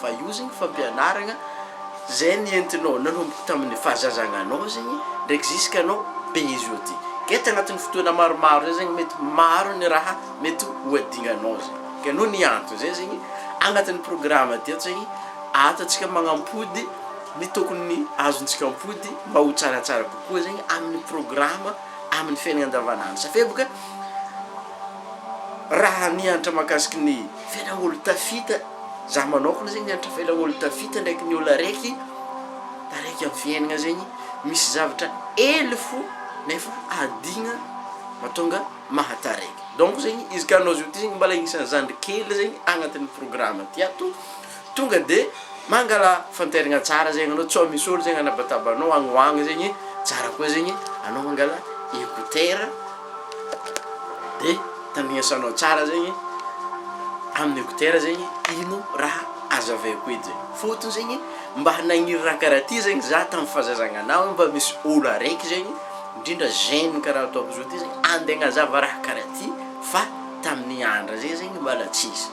Fa io zegny fampianaragna zay nentinao nanomboka tamin'ny fahazazagnanao zegny ndraiky ziska anao be izy io ty ke tagnatin'ny fotoagna maromaro zay zegny mety maro ny raha mety ho adignanao zay ke noho ny antony zay zegny agnatin'ny programa ty ato zegny ahatantsika magnampody ny tokony azontsika ampody mba ho tsaratsara kokoa zegny amin'ny programa amin'ny fiainagna andavanandro safia boka raha nianatra mahakasiky ny Fela olo tafita za manokana zegny mianatra fela olo tafita ndraiky ny olo araiky taraiky am fiainagna zegny misy zavatra hely fo nefa adigna matonga mahataraiky donc zegny izy ka anao zao ty zegny mbala agnisany zandry kely zegny agnatin'ny programa ty ato Tonga de mangala fanterina tsara zegny anao tsao misy olo zegny anabataba anao agny ho agny zegny tsara koa zegny anao mangala écouteur de tandrignesanao tsara zegny amin'ny écouteur zegny ino raha azavaiko eto zegny fôtony zegny mba nagniry raha karaha ty zegny za tam fazazagna anah mba misy olo araiky zegny ndrindra jeune karaha ataoko zao ty zegny ande agnazava raha karaha ty fa tamin'ny andra zay zegny mbala tsisy.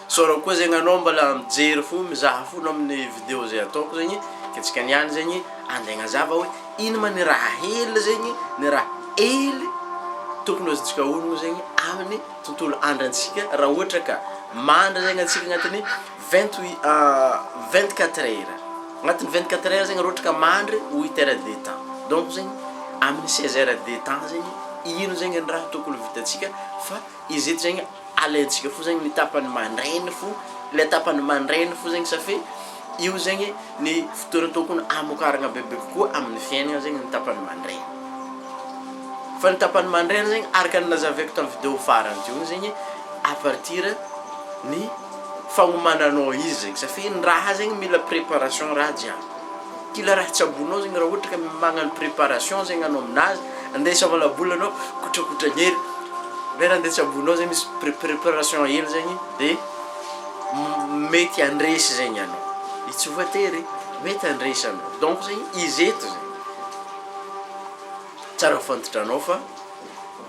Sorry koa zegny anao mbala mijery fo mizaha fo anao amin'ny video zay ataoko zegny ke tsika niany zegny ande agnazava hoe ino ma ny raha hely zegny ny raha hely tokony ho azontsika onogno zegny amin'ny tontolo andrantsika raha ohatra ka mandry zegny antsika agnatin'ny vingt huit vingt quatre heures agnatin'ny vingt quatre heures zegny raha ohatra ka mandry huit heures de temps donc zegny amin'ny seize heures de temps zegny ino zegny ny raha tokony ho vitantsika fa Izy eto zegny alaintsika fo zegny ny tapany mandraigny fo, le tapany mandraigny fo zegny safi io zegny ny fotoana tokony hamokaragna bebe kokoa amin'ny fiaignana zegny ny tapany mandraigny. Fa ny tapany mandraigny zegny araka ny nazavaiko tamin'ny video farany teo igny zegny à partir ny fagnomananao izy zegny safi ny raha zegny mila préparation raha jiaby. Kila raha tsy ambonao zegny raha ohatra ka magnano préparation zegny anao aminazy andeha isava labola anao kotrakotragny hely ndray raha ndeha tsy ambonao zegny misy pré- préparation hely zegny de m- mety handresy zegny anao i tsy voatery mety handresy anao donc zegny izy eto zegny tsara fantatra anao fa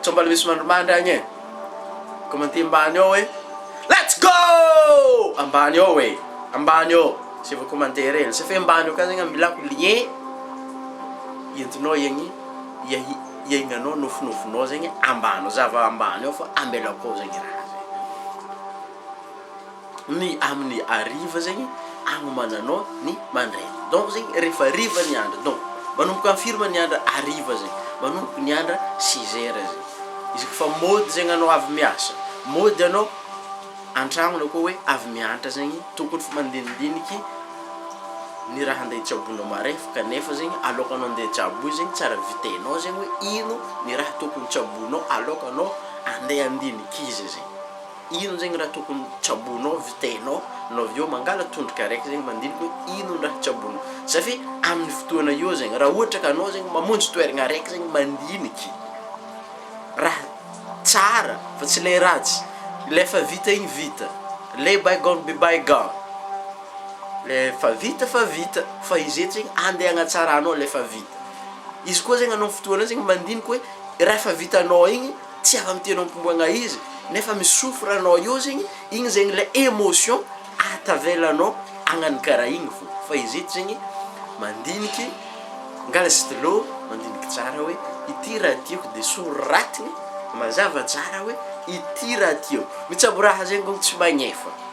Sao mbola misy mandrimandry agny e! Commenter mbany ao hoe let's go! Ambany ao e! Ambany ao! Zay vao commenter e! Lazaiko hoe mbany ao ka zegny amilako lien entinao hiagny hiahi hiaignanao nofinofinao zegny ambany ao! Zava ambany ao fa ambelako ao zegny raha zegny. ny aminy ariva zegny agnomananao ny mandraigny donc zegny rehefa ariva ny andro donc manomboka am firy ma ny andro ariva zegny manomboka ny andro six heures zegny izy koa fa mody zegny anao avy miasa mody anao antragno na koa hoe avy miantra zegny tokony fa mandinidiniky ny raha andeha tsaboinao marefo kanefa zegny alokanao andeha tsabo zegny tsara vitainao zegny hoe ino ny raha tokony tsaboinao alokanao andeha andiniky izy zegny Inon zegny raha tokony tsaboinao vitainao no avy eo mangala tondroka araiky zegny mandinika hoe inon raha tsaboinao za fe aminy fotoana io zegny raha ohatra ka anao zegny mamonjy toeragna araiky zegny mandiniky raha tsara fa tsy le ratsy le efa vita igny vita le bygone be bygone le efa vita fa vita fa izy eto zegny ande agnatsaranao le efa vita izy koa zegny anao fotoana io zegny mandiniky hoe raha efa vitanao igny Tsy afa miteny ampombagna izy nefa mi souffre anao eo zegny, igny zegny le emotion atavelanao agnano karaha igny fô, fa izy eto zegny mandiniky mangala stylo mandiniky tsara hoe ity raha tiako de soratiny mazava tsara hoe ity raha tiako, mitsaboraha zegny kô tsy magnefa.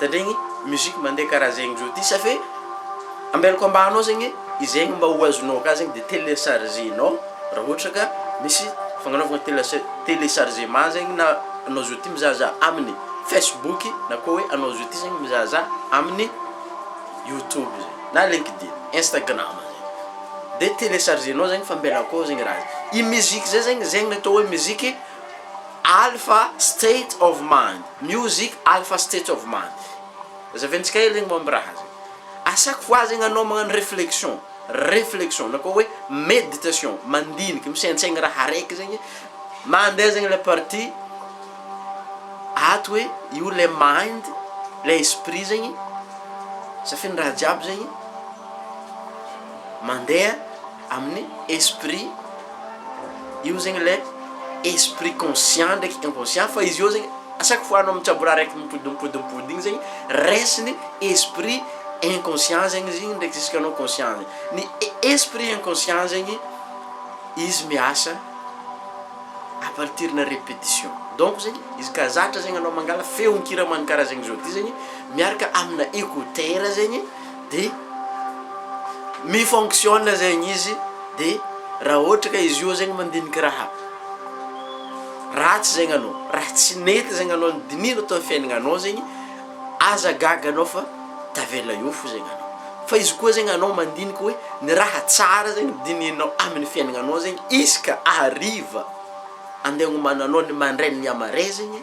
Tandregny musique mandeha karaha zegny zao ty safe ambelako ambaninao zegny izegny mba ho azonao ka zegny de telechargenao raha ohatra ka misy fagnanaovagna telece- telechargement zegny na anao zao ty mizahazaha aminy facebook na koa hoe anao zao ty zegny mizahazaha aminy youtube zay na linkedin, instagram zay de telechargenao zegny fa mbela akao zegny raha zay, i musique zay zegny zegny le atao hoe musique alpha state of mind. Music alpha state of mind zaventsika hely zegny momba raha zegny a chaque fois zegny anao magnano reflexion reflexion na koa hoe meditation mandiniky misaintsaigny raha araiky zegny mande zegny le partie ato hoe io le mind le esprit zegny safinindraha jiaby zegny mandeha Amin'ny esprit io zegny le esprit conscient ndraiky inconscient fa izy io zegny à chaque fois anao mitsabo raha araiky mipody mipody mipody igny zegny raisiny esprit inconscient zegny izy igny ndraiky jusk'anao conscient zegny, ny e- esprit inconscient zegny izy miasa à partir na repetition donc zegny izy ka zatra zegny anao mangala feon-kira mankaraha zegny zao ty zegny miaraka amina écouteur zegny. de mi fonctionne zegny izy de raha ohatra ka izy io zegny mandiniky raha ratsy zegny anao raha tsy nety zegny anao nodinihina tao fiainagnanao zegny aza gaga anao fa tavela eo fo zegny anao fa izy koa zegny anao mandiniky hoe ny raha tsara zegny dinihinao amin'ny fiainagnanao zegny izy ka hariva andeha agnomananao ny mandray ny mihamare zegny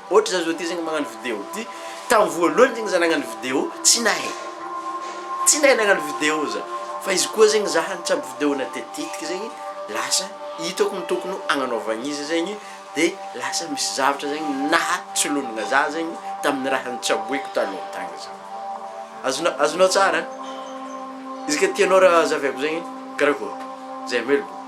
Ohatra za zao ty zegny magnano video ty, tam voalohany zegny za nagnano video tsy nahay, tsy nahay nagnano video za, fa izy koa zegny za nitsabo video na tetitetiky zegny lasa hitako ny tokony ho agnanaovagna izy zegny de lasa misy zavatra zegny nahatsolonigna za zegny tamin'ny raha nitsaboiko taloha tagny zany, azonao azonao tsara? Izy ka tianao raha zahaviako zegny karakôry? Zay am ela.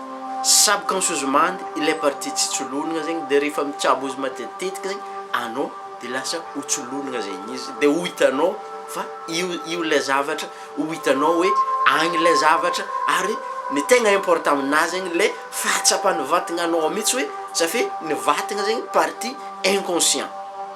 Subconsciousement ilay partie tsy tsolonina zegny de rehefa mitsabo izy matetitetika zegny anao de lasa ho tsolonina zegny izy de ho hitanao fa io io ilay zavatra ho hitanao hoe agny ilay zavatra ary ny tegna important aminazy zegny le fahatsapan'ny vatagnanao mitsy hoe ça fait ny vatagna zegny partie inconscient.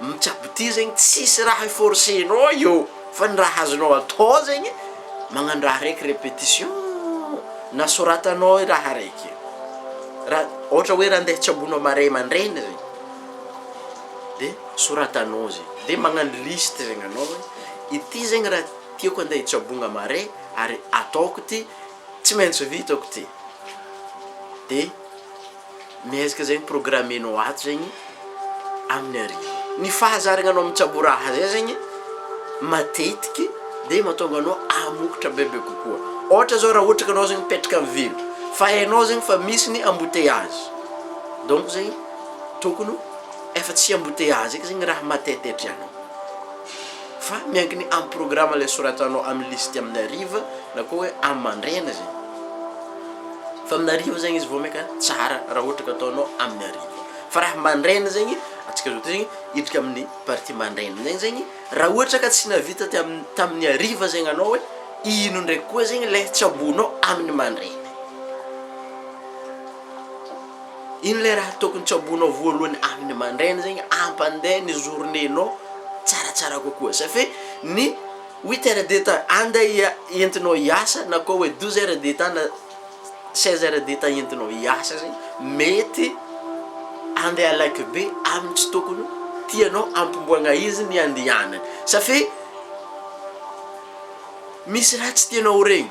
Mitsabo ty zegny tsisy raha i force nao io fa ny raha azonao atao zegny magnano raha raiky repetition na soratanao i raha raiky io ra ohatra hoe ra ndeha tsaboinao marais mandraigny zegny de soratanao zegny de magnano liste zegny anao hoe ity zegny ra tiako ande hitsabogna marais ary ataoko ty tsy maintsy vitako ty de. Miezaka zegny programmenao ato zegny amin'ny hariva. Ny fahazaragnanao mitsabo raha zay zegny matetiky de mahatonga anao hamokatra bebe kokoa. Ohatra zao raha ohatra ka anao zegny mipetraka amin'ny ville, fa hainao zegny fa misy ny embouteillages, donc zegny tokony efa tsy embouteillages eky zegny raha matetehitra anao. Fa miankina amin'ny programa ilay soratanao amin'ny listy amin'ny hariva na koa hoe amin'ny mandraina zay. Fa amin'ny hariva zegny izy vao maika tsara raha ohatra ka ataonao amin'ny hariva. Fa raha mandraina zegny, antsika zao ty hiditra amin'ny partie mandraina zegny zegny, raha ohatra ka tsy nahavita teo amin'ny tamin'ny hariva zegny anao hoe ino ndraiky koa zegny ilay tsaboinao amin'ny mandraina. Ino ilay raha tokony tsaboinao voalohany amin'ny mandraina zegny ampandeha ny journée nao tsaratsara kokoa sa fe ny huit heures de temps ande entinao hiasa na koa hoe douze heures de temps na seize heures de temps entinao hiasa zegny mety ande alaiky be amin'ny tsy tokony tianao ampimboagna izy ny andehanany sa fe misy raha tsy tianao ho regny.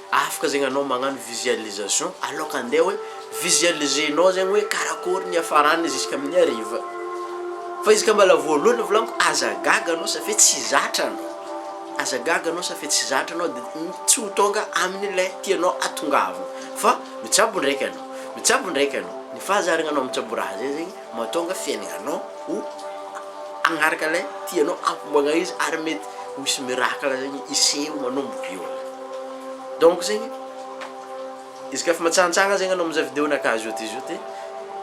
Afaka zegny anao magnano visualisation aloka andeha hoe visualiser-nao zegny hoe karakory ny hiafarany ziskamin'ny hariva. Fa izy ka mbala voalohany volaniko aza gaga anao safia tsy zatra anao, aza gaga anao safia tsy zatra anao de tsy ho tonga amin'ilay tianao atongavana fa mitsabo ndraiky anao, mitsabo ndraiky anao, ny fahazarana anao mitsabo raha zay zegny Mahatonga fiainanao ho hanaraka ilay tianao hamoagna izy ary mety ho hisy miracle zegny hiseho manomboka eo. Donc zegny izy ka fa matsanontsanona zegny anao mizaha video nakà zioty zioty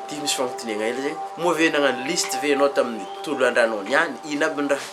de misy fagnontoniagna hely zegny, moa ve nagnano liste ve anao tamin'ny tolo an-drano niany? Ino aby ny raha